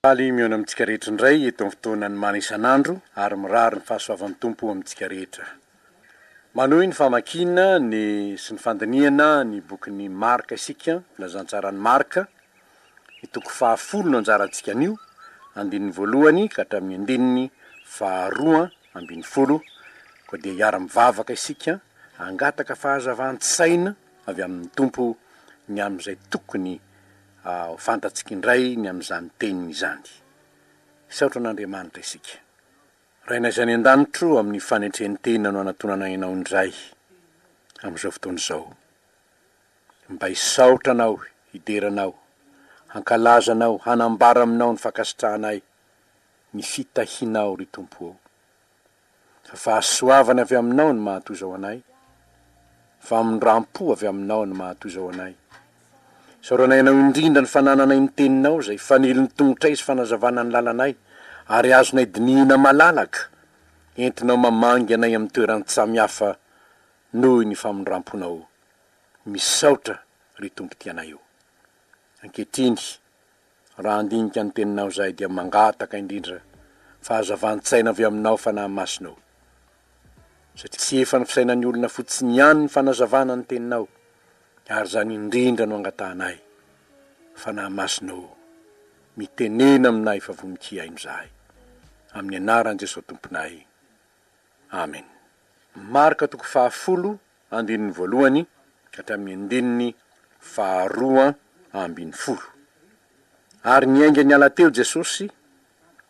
Faly mihaona amintsika rehetra indray eto amin'ny fotoanan'ny mana isan'andro ary mirary ny fahasoavan'ny Tompo amintsika rehetra. Manohy ny famakiana ny sy ny fandinihana ny bokin'i Marka isika, Filazantsaran'i Marka, ny toko fahafolo no anjarantsika anio, andininy voalohany ka hatramin'ny andininy faharoa ambin'ny folo, koa dia hiara-mivavaka isika hangataka fahazavan-tsaina avy amin'ny Tompo ny amin'izay tokony Ho fantatsika indray ny amin'izany teniny izany. Hisaotra an'Andriamanitra isika. Rainay izay any an-danitra o, amin'ny fanetren-tena no anatonanay Anao indray, amin'izao fotoana izao. Mba hisaotra Anao, hidera Anao, hankalaza Anao, hanambara aminao ny fankasitrahanay ny fitahianao, ry Tompo ô. Fahasoavana avy Aminao no mahatoizao anay, famindram-po avy Aminao no mahatoizao anay. Isaoranay Anao indrindra ny fanananay ny Teninao izay fanilon'ny tongotray sy fanazavana ny lalanay, ary azonay dinihina malalaka, entinao mamangy anay amin'ny toeran-tsamy hafa noho ny famindram-ponao. Misaotra, ry Tompo Tianay o. Ankehitriny. Raha handinika ny teninao izahay dia mangataka indrindra fahazavan-tsaina avy aminao Fanahy Masina o! satria tsy efa ny fisainan'ny olona fotsiny ihany ny fanazavana ny teninao ary izany indrindra no angatahanay Fanahy Masina o! mitenena aminay fa vonon-tsy hihaino izahay amin'ny anaran'i Jesoa Tomponay Amen. Marka toko fahafolo andininy voalohany hatramin'ny andininy faharoa ambin'ny folo. Ary niainga niala teo Jesosy,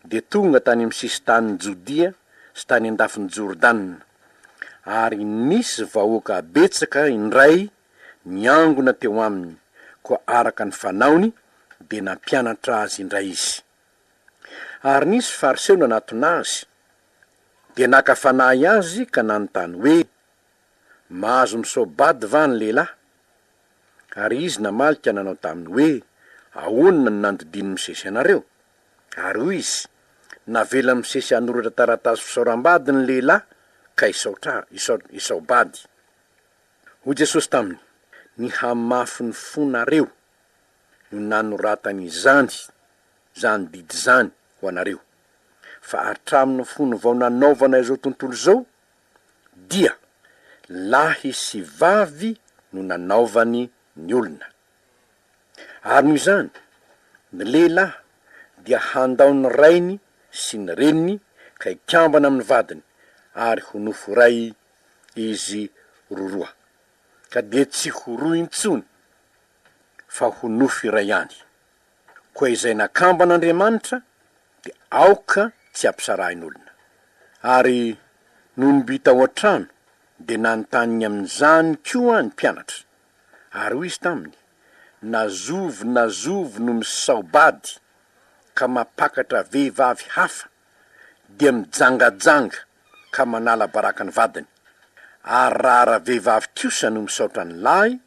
dia tonga tany amin'ny sisin-tanin'i Jodia sy tany an-dafin'i Jordana. Ary nisy vahoaka betsaka indray niangona teo aminy, koa araka ny fanaony dia nampianatra azy indray izy. Ary nisy Fariseo nanatona azy, dia naka fanahy azy ka nanontany hoe, Mahazo misoa-bady va ny lehilahy? Ary izy namaly ka nanao taminy hoe, Ahoana no nandidian'ny misesy anareo? Ary hoy izy, Navelan'ny misesy hanoratra taratasy fisaoram-bady ny lehilahy ka hisaotra, hisaobady. Hoy Jesosy taminy, Ny hamafin'ny fonareo no nanoratany izany, izany didy izany, ho anareo. Fa hatramin'ny fony vao nanaovana izao tontolo izao dia lahy sy vavy no nanaovany ny olona. Ary noho izany, ny lehilahy dia handao ny rainy sy ny reniny ka hikambana amin'ny vadiny, ary ho nofo iray izy roroa, ka dia tsy ho roa intsony, fa ho nofo iray ihany. Koa izay nakambana Andriamanitra dia aoka tsy hampisarahin'olona. Ary nony mby tao an-trano dia nanontany amin'izany koa ny mpianatra. Ary hoy izy taminy, Na zovy na zovy no misaobady ka mampakatra vehivavy hafa, dia mijangajanga ka manala baraka ny vadiny. Ary raha ra-vehivavy kosa no misaotra ny lahy,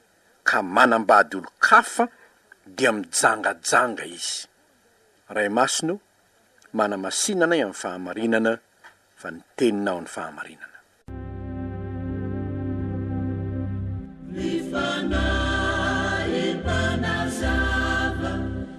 ka manambady olon-kafa dia mijangajanga izy. Ray Masina o, manamasina anay amin'ny fahamarinana fa ny Teninao no fahamarinana. Ny Fanahy mpanazava.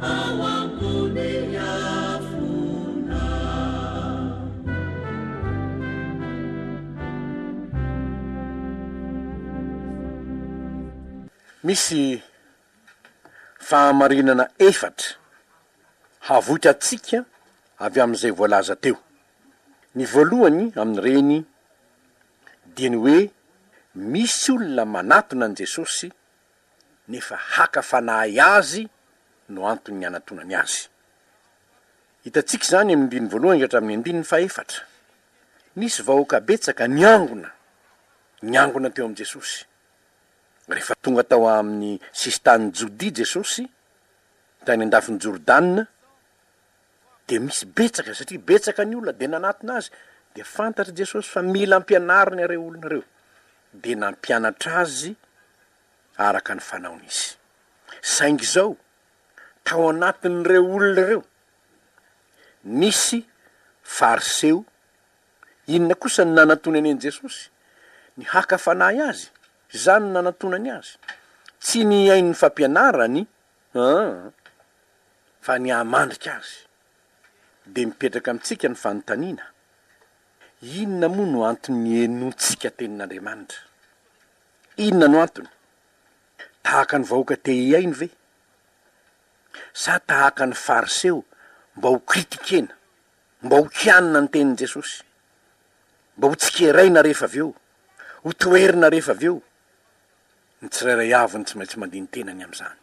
ao ambony afona. Misy fahamarinana efatra havoitrantsika avy amin'izay voalaza teo. Ny voalohany amin'ireny dia ny hoe misy olona manatona an'i Jesosy nefa haka fanahy azy no anton'ny anatonany azy. Hitantsika izany amin'ny andininy voalohany ka hatramin'ny andininy fahefatra. Nisy vahoaka betsaka niangona, niangona teo amin'i Jesosy. Rehefa tonga tao amin'ny sisin-tanin'i Jodia Jesosy, tany an-dafin'i Jordana, dia misy betsaka satria betsaka ny olona dia nanatona azy dia fantatry Jesosy fa mila ampianariny ireo olona ireo dia nampianatra azy araka ny fanaony izy saingy izao tao anatin'ireo olona ireo nisy fariseo inona kosa ny nanatonany an'i Jesosy ny haka fanahy azy izany no nanatonany azy tsy ny hain'ny fampianarany An! Fa ny hahamandrika azy. Dia mipetraka amintsika ny fanontaniana, Inona moa no antony nienoantsika Tenin'Andriamanitra? Inona no antony? Tahaka ny vahoaka te hihaino ve? Sa tahaka ny Fariseo mba ho kritikena, mba ho kianina ny Tenin'i Jesosy? Mba ho tsikeraina rehefa avy eo? Ho toherina rehefa avy eo? Ny tsirairay avy no tsy maintsy mandini-tena ny amin'izany.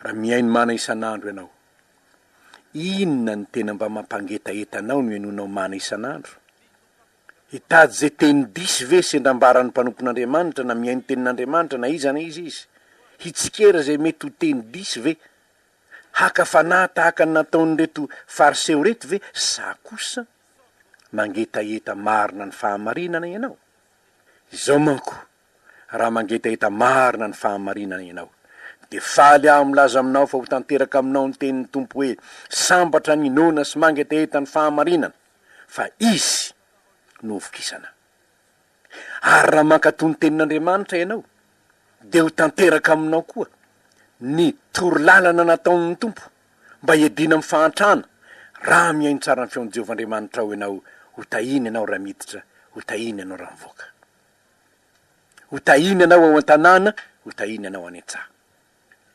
Raha mihaino mana isan'andro ianao, inona no tena mba mampangetaheta anao no henoinao mana isan'andro? Hitady izay teny diso ve sendra ambaran'ny mpanompon'Andriamanitra na mihaino tenin'Andriamanitra na iza na iza izy? Hitsikera izay mety ho teny diso ve? Haka fanahy tahaka ny nataon'ireto Fariseo ireto ve sa kosa mangetaheta marina ny fahamarinana ianao? Izao manko, raha mangetaheta marina ny fahamarinana ianao, dia faly aho milaza aminao fa ho tanteraka aminao ny tenin'ny Tompo hoe, Sambatra ny inoana sy mangetaheta ny fahamarinana, fa izy no hovokisana. Ary raha mankatò ny tenin'Andriamanitra ianao, dia ho tanteraka aminao koa ny torolalana nataon'ny Tompo. mba hiadiana amin'ny fahantrana, raha mihaino tsara ny feon'i Jehovah Andriamanitrao ianao, ho tahina ianao raha miditra, ho tahina ianao raha mivoaka. Ho tahina ianao ao an-tanàna, ho tahina ianao any an-tsaha.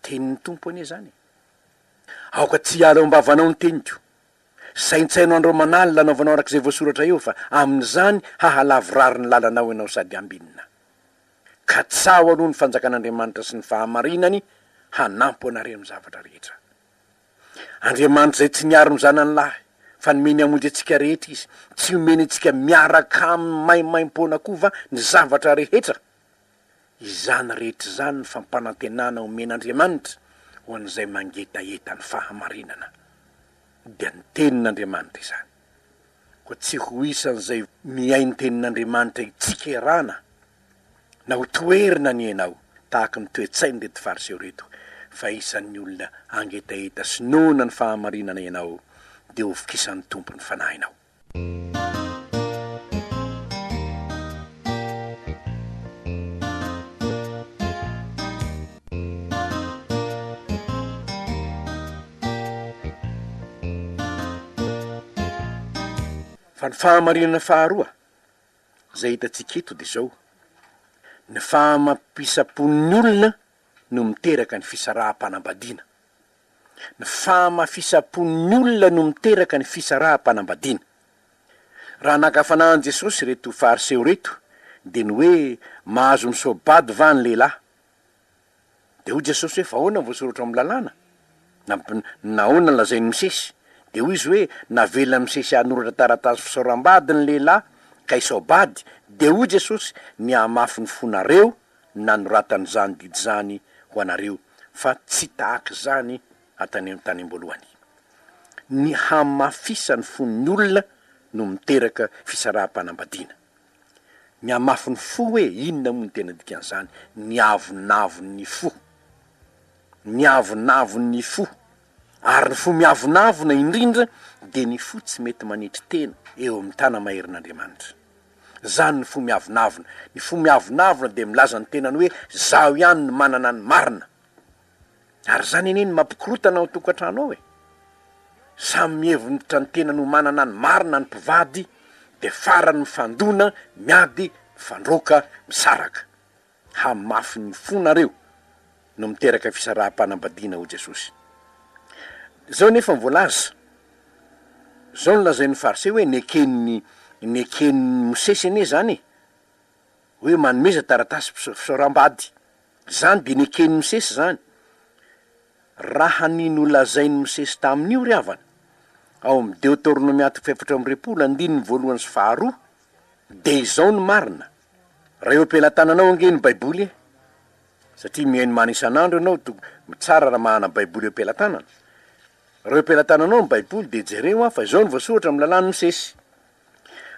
Tenin'ny Tompo anie izany e! Aoka tsy hiala ao am-bavanao ny teniko. Saintsaino andro aman'alina hanaovanao araka izay voasoratra eo, fa amin'izany hahalavorary ny lalanao ianao sady hambinina. Katsaho aloha ny fanjakan'Andriamanitra sy ny fahamarinany hanampo anareo amin'ny zavatra rehetra. Andriamanitra izay tsy niaro ny zanany lahy, fa nomeny hamonjy antsika rehetra izy, tsy homeny antsika miaraka aminy maimaimpoana koa va ny zavatra rehetra? Izany rehetra izany ny fampanantenana omen'Andriamanitra ho an'izay mangetaheta ny fahamarinana. Dia ny Tenin'Andriamanitra izany. koa tsy ho isan'izay mihaino tenin'Andriamanitra hitsikerana na ho toherina anie ianao tahaka ny toe-tsain'ireto Fariseo ireto fa isan'ny olona hangetaheta sy noana ny fahamarinana ianao dia ho vokisan'ny Tompo ny fanahinao. Fa ny fahamarinana faharoa izay hitantsika eto dia izao, ny fahamafisam-pon'ny olona no miteraka ny fisaraham-panambadiana. Ny fahamafisam-pon'ny olona no miteraka ny fisaraham-panambadiana. Raha naka fanahiny Jesosy ireto Fariseo ireto dia ny hoe mahazo misoa-bady va ny lehilahy? Dia hoy Jesosy hoe, Fa ahoana no voasoratra ao amin'ny Lalàna? Na, na ahoana no lazain'i Mosesy? Dia hoy izy hoe, Navelan'i Mosesy hanoratra taratasy fisaoram-bady ny lehilahy ka hisao-bady, dia hoy Jesosy, Nihamafy ny fonareo ny nanoratana izany didy izany ho anareo, fa tsy tahaka izany hatany, tanim-boalohany. Ny hamafisan'ny fon'ny olona no miteraka fisaraham-panambadiana. Mihamafy ny fo hoe inona moa ny tena dikan'izany, ny avonavon'ny fo. Ny avonavon'ny fo. Ary ny fo miavonavona indrindra dia ny fo tsy mety manetry tena eo amin'ny tana maherin'Andriamanitra. Izany ny fo miavonavona. Ny fo miavonavona dia milaza ny tenany hoe izaho ihany no manana ny marina. Ary izany anie no mampikorotana ao tokantrano ao e! Samy mihevonitra ny tenany ho manana ny marina ny mpivady dia farany mifandona, miady, mifandroaka, misaraka. Hamafy ny fonareo no miteraka fisaraham-panambadiana hoy Jesosy. Izao anefa ny voalaza, izao no lazain'ny Fariseo hoe neken'i neken'i Mosesy anie izany e! hoe manomeza taratasy fisaoram-bady Zany de neken'i Mosesy zany? Raha ny nolazain'i Mosesy tamin'io ry havana, ao amin'ny Deoteronomia toko fahefatra amby roapolo andininy voalohany sy faharoa, de izao no marina, raha eo am-pelatananao ange ny baiboly e! satria mihaino mana isan'andro ianao to tsara raha manana baiboly eo am-pelatanana, raha eo am-pelatananao ny baiboly de jereo an fa izao no voasoratra amin'ny lalàn'i Mosesy,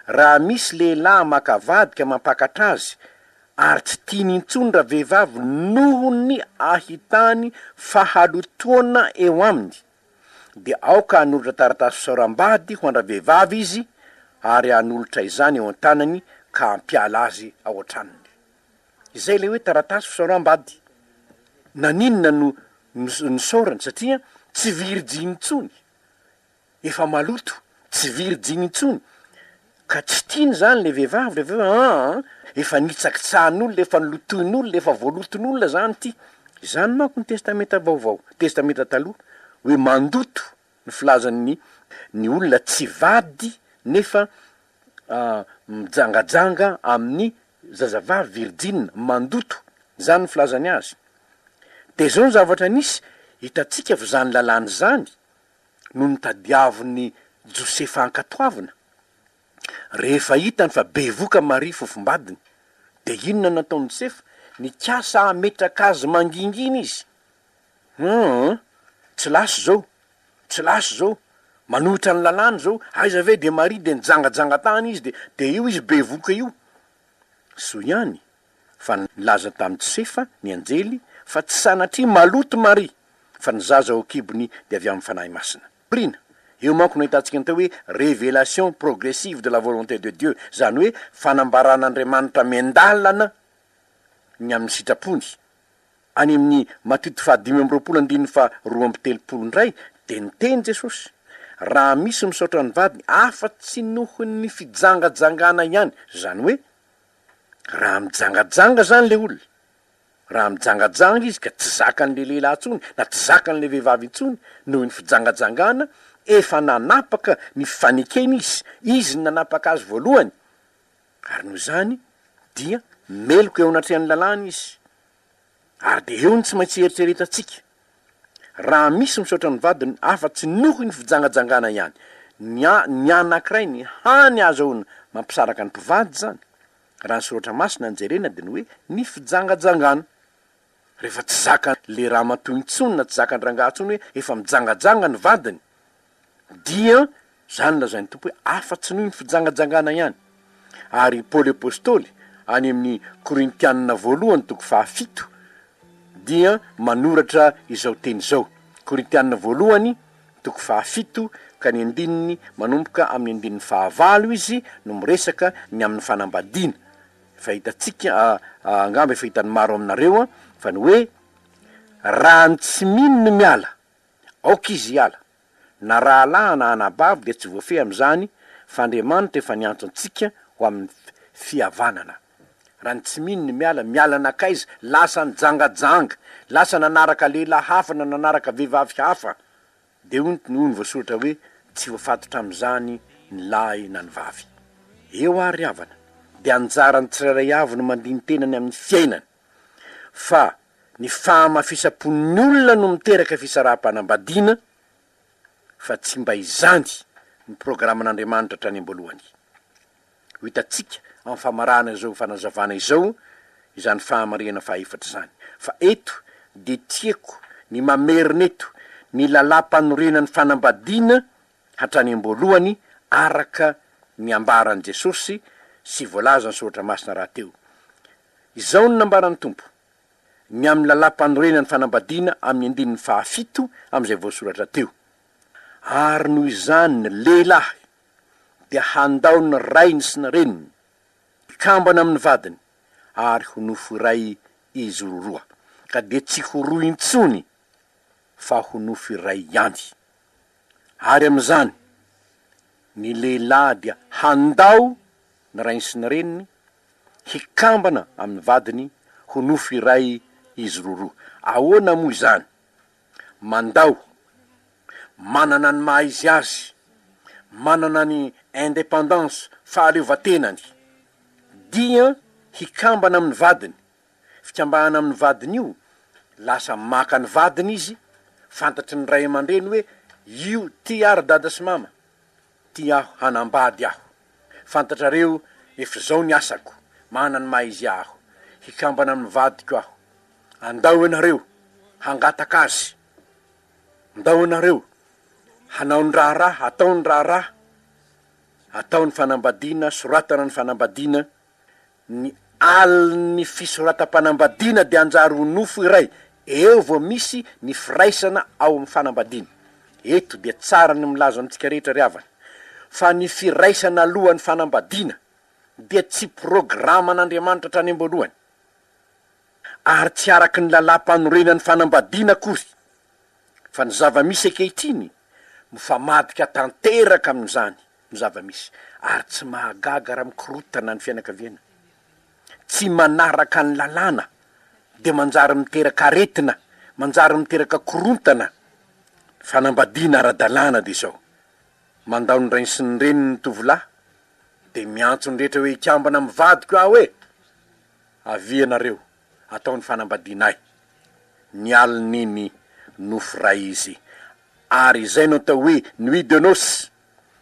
Raha misy lehilahy maka vadika mampakatra azy ary tsy tiany intsony ravehivavy noho ny ahitany fahalotoana eo aminy, dia aoka hanolotra taratasy fisaoram-bady ho an-dravehivavy izy ary hanolotra izany eo an-tanany ka hampiala azy ao an-tranony. Izay ilay hoe taratasy fisaoram-bady. Naninona no nosaorany? Satria tsy virjiny intsony. efa maloto, tsy virjiny intsony, ka tsy tiany izany ilay vehivavy rehefa hoe aa efa nitsakitsahan'olona, efa nolotoin'olona, efa voaloton'olona izany ity. Izany manko ny Testamenta Vaovao, Testamenta Taloha, hoe mandoto ny filazan'ny ny olona tsy vady nefa mijangajanga amin'ny zazavavy virjina, mandoto, izany ny filazany azy. Dia izao ny zavatra nisy, hitantsika fa izany lalàna izany no notadiavin'i Josefa hankatoavina. Rehefa hitany fa bevoka Maria fofombadiny, dia inona no nataon'i Josefa? Nikasa hametraka azy mangingina izy. Humm! Tsy lasa izao! Tsy lasa izao! Manohitra ny lalàna izao! Aiza ve dia Maria? Dia nijangajanga tany izy, dia dia io izy bevoka io. Soa ihany fa nilaza tamin'i Josefa ny anjely fa tsy sanatria maloto Maria, fa ny zaza ao an-kibony dia avy amin'ny Fanahy Masina. Prina, Eo manko no ahitantsika ny atao hoe révélation progressive de la volonté de Dieu, izany hoe fanambaran'Andriamanitra miandalana ny amin'ny sitrapony. Any amin'ny Matito fahadimy amby roapolo andininy faharoa amby telopolo indray dia niteny Jesosy, Raha misy misaotra ny vadiny afa-tsy noho ny fijangajangana ihany, izany hoe, Raha mijangajanga zany le olona, raha mijangajanga izy ka tsy zakan'le lehilahy intsony na tsy zakan'le vehivavy intsony noho ny fijangajangana, efa nanapaka ny fanekeny izy, izy no nanapaka azy voalohany, ary noho izany dia meloka eo anatrehan'ny lalàna izy. Ary dia eo ny tsy maintsy hieritreretantsika, raha misy misaotra ny vadiny afa-tsy noho ny fijangajangana ihany, ny a, ny anankiray ny hany ahazahoana mampisaraka ny mpivady izany, raha ny Soratra Masina no jerena dia ny hoe ny fijangajangana. Rehefa tsy zakan' le ramatoa intsony na tsy zakan-drangahy intsony hoe efa mijangajanga ny vadiny, Dia izany lazain'ny Tompo hoe afa-tsy noho ny fijangajangana ihany. Ary i Paoly Apostoly, any amin'ny Korintianina voalohany toko fahafito, dia manoratra izao teny izao, Korintianina voalohany toko fahafito ka ny andininy manomboka amin'ny andininy fahavalo izy no miresaka ny amin'ny fanambadiana, efa hitantsika angamba efa hitan'ny maro aminareo fa ny hoe, Raha ny tsy mino no miala. Aoka izy hiala. Na rahalahy na anabavy dia tsy voafehy amin'izany fa Andriamanitra efa niantso antsika ho amin'ny fihavanana. Raha ny tsy mino ny miala, miala nankaiza? Lasa nijangajanga, lasa nanaraka lehilahy hafa na nanaraka vehivavy hafa. Dia hoy ny hoy ny voasoratra hoe tsy voafatotra amin'izany ny lahy na ny vavy. Eo ary ry havana, dia anjaran'ny tsirairay avy no mandini-tena ny amin'ny fiainany. fa ny fahamafisam-pon'ny olona no miteraka fisaraham-panambadiana fa tsy mba izany no programan'Andriamanitra hatrany am-boalohany. Ho hitantsika amin'ny famarahana izao fanazavana izao izany fahamarihana fahaefatra izany. Fa eto dia tiako ny mamerina eto ny lalàm-panorenan'ny fanambadiana hatrany am-boalohany araka ny ambaran'i Jesosy sy voalazan'ny Soratra Masina rahateo. Izao no nambaran'ny Tompo, Ny amin'ny lalàm-panorenana ny fanambadiana amin'ny andininy fahafito amin'izay voasoratra teo. Ary noho izany ny lehilahy dia handao ny rainy sy ny reniny, hikambana amin'ny vadiny, ary ho nofo iray izy roroa, ka dia tsy ho roa intsony fa ho nofo iray ihany. Ary amin'izany, ny lehilahy dia handao ny rainy sy ny reniny hikambana amin'ny vadiny ho nofo iray izy roroa. Ahoana moa izany? Mandao, manana ny maha izy azy, manana ny indépendance, fahaleovantenany, dia hikambana amin'ny vadiny Fikambahana amin'ny vadiny io, lasa maka ny vadiny izy, fantatry ny ray aman-dreny hoe io tia aho ry dada sy mama, tia aho hanambady aho. Fantatrareo efa izao ny asako, manana ny maha izy aho, hikambana amin'ny vadiko aho. Andao ianareo hangataka azy, ndao ianareo hanao ny raharaha, atao ny raharaha, atao ny fanambadiana, soratana ny fanambadiana, Ny alin'ny fisoratam-panambadiana dia hanjary ho nofo iray eo vao misy ny firaisana ao amin'ny fanambadiana. Eto dia tsara ny milaza amintsika rehetra ry havana, fa ny firaisana alohan'ny fanambadiana dia tsy programan'Andriamanitra hatrany am-boalohany, ary tsy araka ny lalàm-panorenan'ny fanambadiana akory, fa ny zava-misy ankehitriny mifamadika tanteraka amin'izany. ny zava-misy ary tsy mahagaga raha mikorotana ny fianakaviana tsy manaraka ny lalàna dia manjary miteraka aretina, manjary miteraka korontana, fanambadiana ara-dalàna dia izao, mandao ny rainy sy ny reniny ny tovolahy dia miantso ny rehetra hoe hikambana amin'ny vadiko aho e! avia ianareo atao ny fanambadiana ahy, ny alin'iny nofy ray izy ary izay no atao hoe nuit de noces.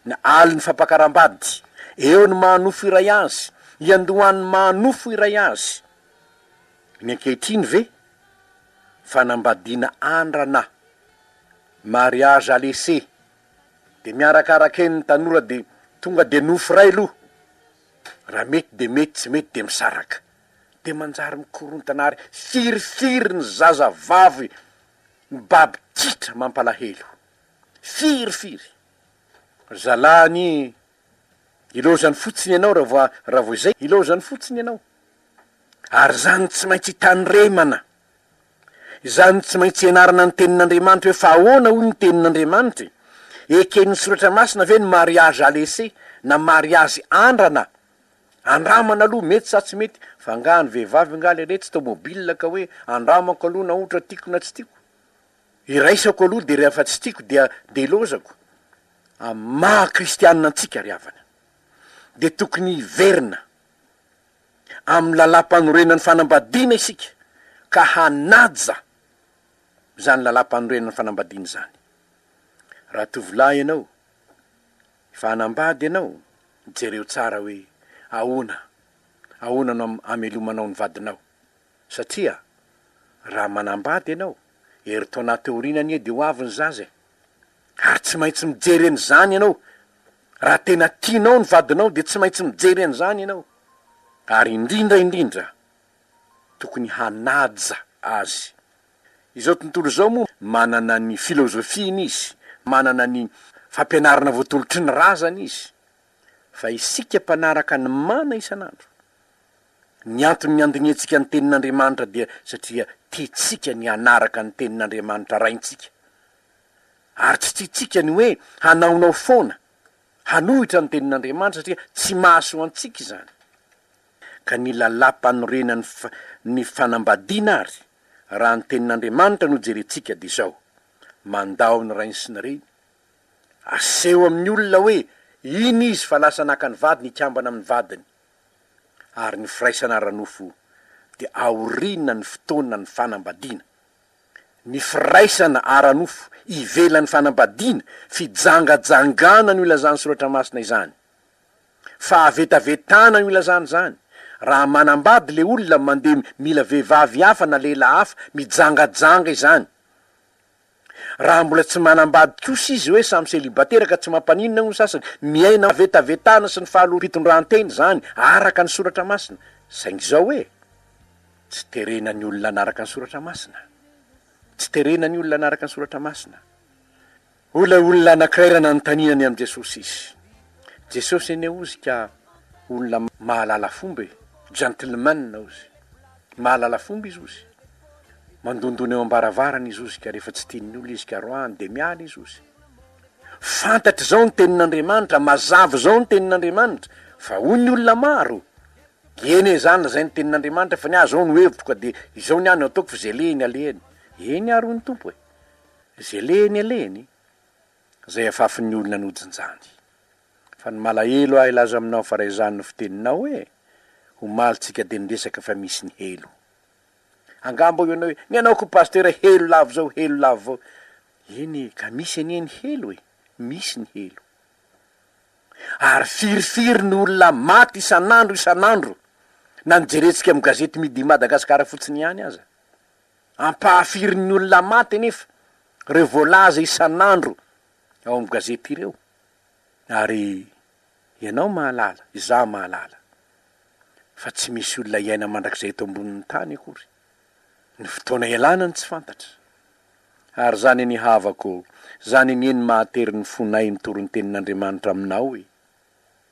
Ny alin'ny fampakaram-bady, eo ny maha nofo iray azy, iandohan'ny maha nofo iray azy. Ny ankehitriny ve? Fanambadiana andrana, mariage à laisser, de miarakaraka eny ny tanora de tonga de nofo iray aloha, raha mety de mety, tsy mety de misaraka. De manjary mikorontana ary firifiry ny zazavavy mibaby titra, mampalahelo. Firy firy. Ry zalahy anie ilaozany fotsiny ianao raha vao raha vao izay ilaozany fotsiny ianao. Ary izany tsy maintsy itandremana. Izany tsy maintsy ianarana ny tenin'Andriamanitra hoe fa ahoana hoy ny tenin'Andriamanitra e? Eken'ny soratra masina ve ny mariage à laisser na mariazy andrana? Andramana aloha mety sa tsy mety, fa angaha ny vehivavy angaha lehilahy tsy tômôbila ka hoe andramako aloha na ohatra tiako na tsy tiako. Iraisako aloha dia rehefa tsy tiako dia dia ilaozako amin'ny maha kristianina antsika ry havana dia tokony hiverina amin'ny lalàmpanorenan'ny fanambadiana isika ka hanaja izany lalàmpanorenan'ny fanambadiana izany raha tovolahy ianao efa hanambady ianao jereo tsara hoe ahoana ahoana no amelomanao ny vadinao Satria raha manambady ianao, herintaona aty aoriana anie dia ho avy ny zaza e! Ary tsy maintsy mijery an'izany ianao! Raha tena tianao ny vadinao dia tsy maintsy mijery an'izany ianao! Ary indrindra indrindra, tokony hanaja azy! Izao tontolo izao moa manana ny filozofiany izy, manana ny fampianarana voatolotry ny razany izy, fa isika mpanaraka ny mana isan'andro Ny antony niandiniantsika ny Tenin'Andriamanitra dia satria tiantsika ny hanaraka ny Tenin'Andriamanitra Raintsika. Ary tsy tiantsika ny hoe hanaonao foana, hanohitra ny Tenin'Andriamanitra satria tsy mahasoa antsika izany. Ka ny Lalàm-panorenan'ny ny fanambadiana ary, raha ny Tenin'Andriamanitra no jerentsika dia izao, Mandao ny rainy sy ny reny, aseho amin'ny olona hoe iny izy fa lasa naka ny vadiny, hikambana amin'ny vadiny. ary ny firaisana ara-nofo dia aoriana ny fotoanan'ny fanambadiana. Ny firaisana ara-nofo ivelan'ny fanambadiana, fijangajangana no ilazan'ny Soratra Masina izany. Fahavetavetana no ilazany izany. Raha manambady ilay olona mandeha mila vehivavy hafa na lehilahy hafa, mijangajanga izany. Raha mbola tsy manambady kosa izy hoe samy célibataire ka tsy mampaninona hono ny sasany, miaina amin'ny vetavetana sy ny fahaloam-pitondrantena izany araka ny soratra masina, saingy izao hoe, tsy terena ny olona hanaraka ny soratra masina, tsy terena ny olona hanaraka ny soratra masina. Hoy ilay olona anankiray raha nanontaniana ny amin'i Jesosy izy. Jesosy anie hozy ka olona mahalala fomba e, gentleman hozy. Mahalala fomba i Zozy. Mandondona eo am-baravarana i Zozy ka rehefa tsy tian'ny olona izy ka roahany dia miala i Zozy. Fantatra izao ny tenin'Andriamanitra, mazava izao ny tenin'Andriamanitra fa hoy ny olona maro, eny e, izany ilazay ny tenin'Andriamanitra fa ny ahy izao no hevitro ka dia izao ny ahy no ataoko fa izay lehiny alehany. Eny ary hoy ny Tompo e, izay lehiny alehany, izay afafin'ny olona nojinjany. Fa ny malahelo ahy laza aminao fa raizany ny fiteninao hoe, omaly tsika dia niresaka fa misy ny helo. Angaha mbô ianao hoe, ny anao koa Pasitera helo lavo izao helo lavo vao. Eny e, ka misy anie ny helo e, misy ny helo. Ary firy firy ny olona maty isan'andro isan'andro na ny jerentsika amin'ny gazety Midi Madagascar fotsiny ihany aza. Ampahafirin'ny olona maty anefa ireo voalaza isan'andro ao amin'ny gazety ireo. Ary ianao mahalala, izaho mahalala, fa tsy misy olona hiaina mandrakizay eto ambonin'ny tany akory. Ny fotoana ialana no tsy fantatra. Ary izany anie havako, izany anie no mahatery ny fonay ny torintenin'Andriamanitra aminao e!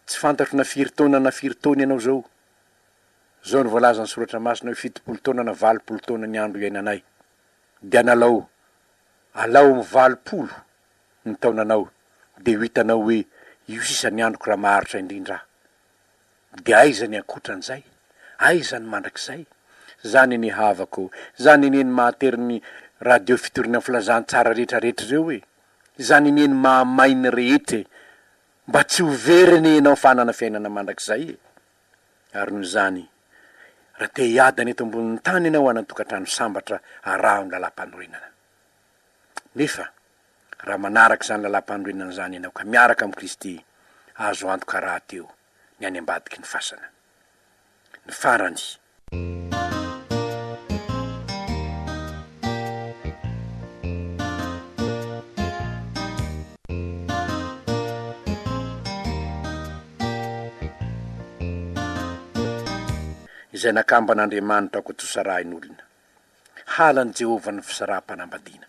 Tsy fantatro na firy taona na firy taona ianao izao. Izao no voalazan'ny Soratra Masina hoe fitopolo taona na valopolo taona ny andro iainanay. Dia analao Alao amin'ny valopolo ny taonanao dia ho hitanao hoe io sisa ny androko raha maharitra indrindra aho. Dia aiza ny ankotran'izay? Aiza ny mandrakizay? Zany anie havako ô! Zany anie ny mahatery ny radio fitoriana filazantsara rehetra rehetra ireo e! Zany anie ny mahamay ny rehetra e! Mba tsy ho very anie ianao fa hanana fiainana mandrakizay e! Ary noho izany, raha te hiadana eto ambonin'ny tany ianao hanan-tokantrano sambatra, araho ny lalam-panorenana. Nefa raha manaraka izany lalam-panorenana izany ianao ka miaraka amin'i Kristy, azo antoka rahateo ny any ambadiky ny fasana. Ny farany, izay nakamban'Andriamanitra ko tosarahin'olona. Halan'i Jehovah ny fisaraham-panambadiana.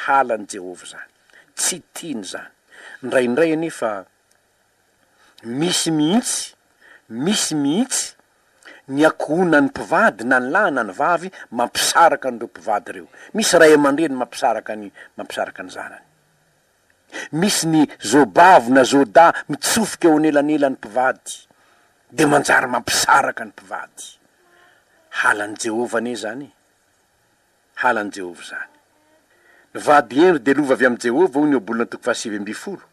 Halan'i Jehovah izany. Tsy tiany izany. Indraindray anefa, Misy mihitsy, misy mihitsy, ny ankohonan'ny mpivady na ny lahy na ny vavy mampisaraka an'ireo mpivady ireo. Misy ray aman-dreny mampisaraka ny mampisaraka ny zanany. Misy ny zoabavy na zoadahy mitsofoka eo anelanelan'ny mpivady, dia manjary mampisaraka ny mpivady. Halan'i Jehovah anie izany e! halan'i Jehovah izany. Ny vady Henry dia lova avy amin'i Jehovah, hoy ny Ohabolana toko fahasivy ambin'ny folo.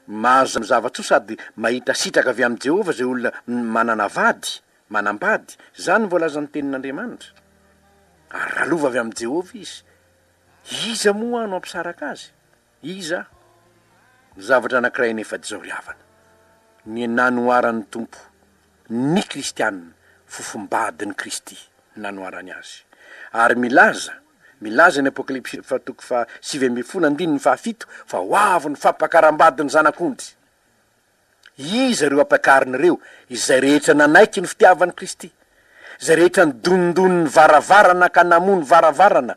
Mahazo zava-tsoa sady mahita sitraka avy amin'i Jehovah izay olona manana vady, manambady, izany no voalazan'ny Tenin'Andriamanitra. Ary raha lova avy amin'i Jehovah izy, iza moa no hampisaraka azy? Iza no zavatra anankiray nefa dizao ry havana? Ny nanoharan'ny Tompo ny kristianina, fofom-badin'i Kristy nanoharany azy. Ary milaza, milaza ny Apokalypsy fa toko faha sivy ambin'ny folo andininy faha fito fa ho avy ny fampakaram-badin'ny Zanak'ondry. Iza ireo ampakarina ireo? Izay rehetra nanaiky ny fitiavan'i Kristy. Izay rehetra nidonidony ny varavarana ka namoha ny varavarana.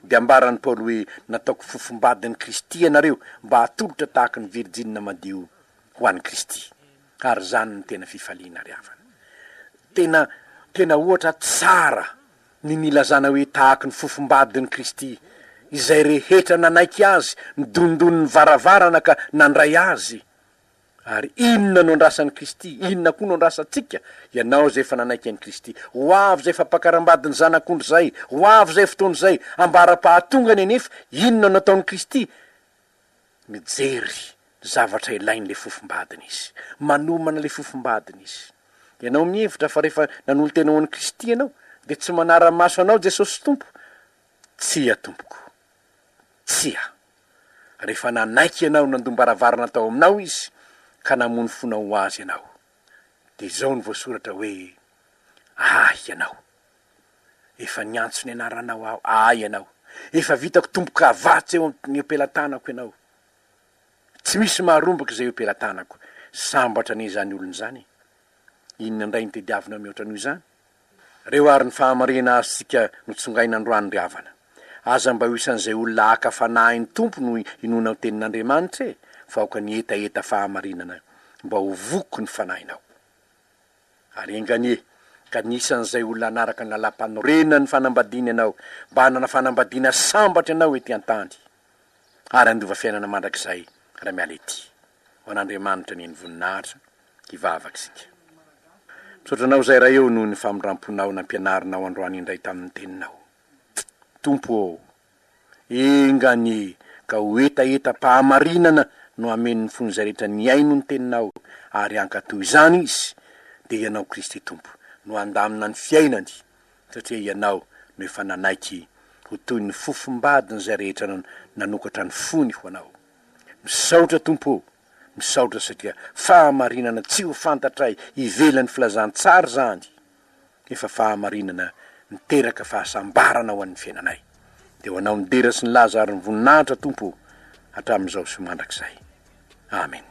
Dia ambaran'i Paoly hoe, Nataoko fofom-badin'i Kristy ianareo, mba hatolotra tahaka ny virjinina madio ho an'i Kristy. Ary izany no tena fifaliana ry havana. Tena, tena ohatra tsara ny nilazana hoe tahaka ny fofom-badin'i Kristy. Izay rehetra nanaiky Azy, nidonidony ny varavarana ka nandray Azy. Ary inona no andrasan'i Kristy? Inona koa no andrasantsika? Ianao izay efa nanaiky an'i Kristy. Ho avy izay fampakarambadin'ny Zanak'ondry izay! Ho avy izay fotoana izay! Ambara-pahatongany anefa, inona no ataon'i Kristy? Mijery ny zavatra ilain'ilay fofombadiny Izy. Manomana ilay fofombadiny Izy. Ianao mihevitra fa rehefa nanolo-tena ho an'i Kristy ianao, dia tsy manara-maso anao Jesosy Tompo? Tsia, tompoko. Tsia. rehefa nanaiky ianao nandom-baravarana tao aminao izy ka namono fonao ho azy ianao. Dia izao no voasoratra hoe, Ahy ianao. Efa niantso ny anaranao aho, Ahy ianao. Efa vitako tombo-kavatsy eo amin'ny ompelatanako ianao. Tsy misy maharombaka izay ompelatanako. Sambatra anie izany olona izany e! Inona indray no tediavinao mihoatra noho izany? Reo ary ny fahamarena azy tsika no tsongaina androany ry havana. Aza mba ho isan'izay olona haka fanahin'ny Tompo no inoana ho tenin'Andriamanitra e fa aoka ny hetaheta fahamarinana mba ho voky ny fanahinao. Ary enga anie ka ny isan'izay olona hanaraka ny lalam-panorenan'ny fanambadiana ianao mba hanana fanambadiana sambatra ianao ety an-tany ary handova fiainana mandrakizay raha miala ety. Ho an'Andriamanitra neny voninahitra hivavaksika. Misaotra anao Zay Ray ô noho ny famindramponao nampianarinao androany indray tamin'ny teninao. Tompo ô! Enga anie ka ho hetahetam-pahamarinana no hamen'ny fon'izay rehetra nihaino ny teninao ary hankatò izany izy dia Ianao Kristy Tompo no handamina ny fiainany satria Ianao no efa nanaiky ho toy ny fofombadin'izay rehetra nanokatra ny fony ho Anao. Misaotra Tompo o! Misaotra satria fahamarinana tsy ho fantatray ivelan'ny filazantsara izany efa fahamarinana miteraka fahasambarana ho an'ny fiainanay. Dia ho Anao ny dera sy ny laza ary ny voninahitra Tompo o! hatramin'izao sy mandrakizay. Amen.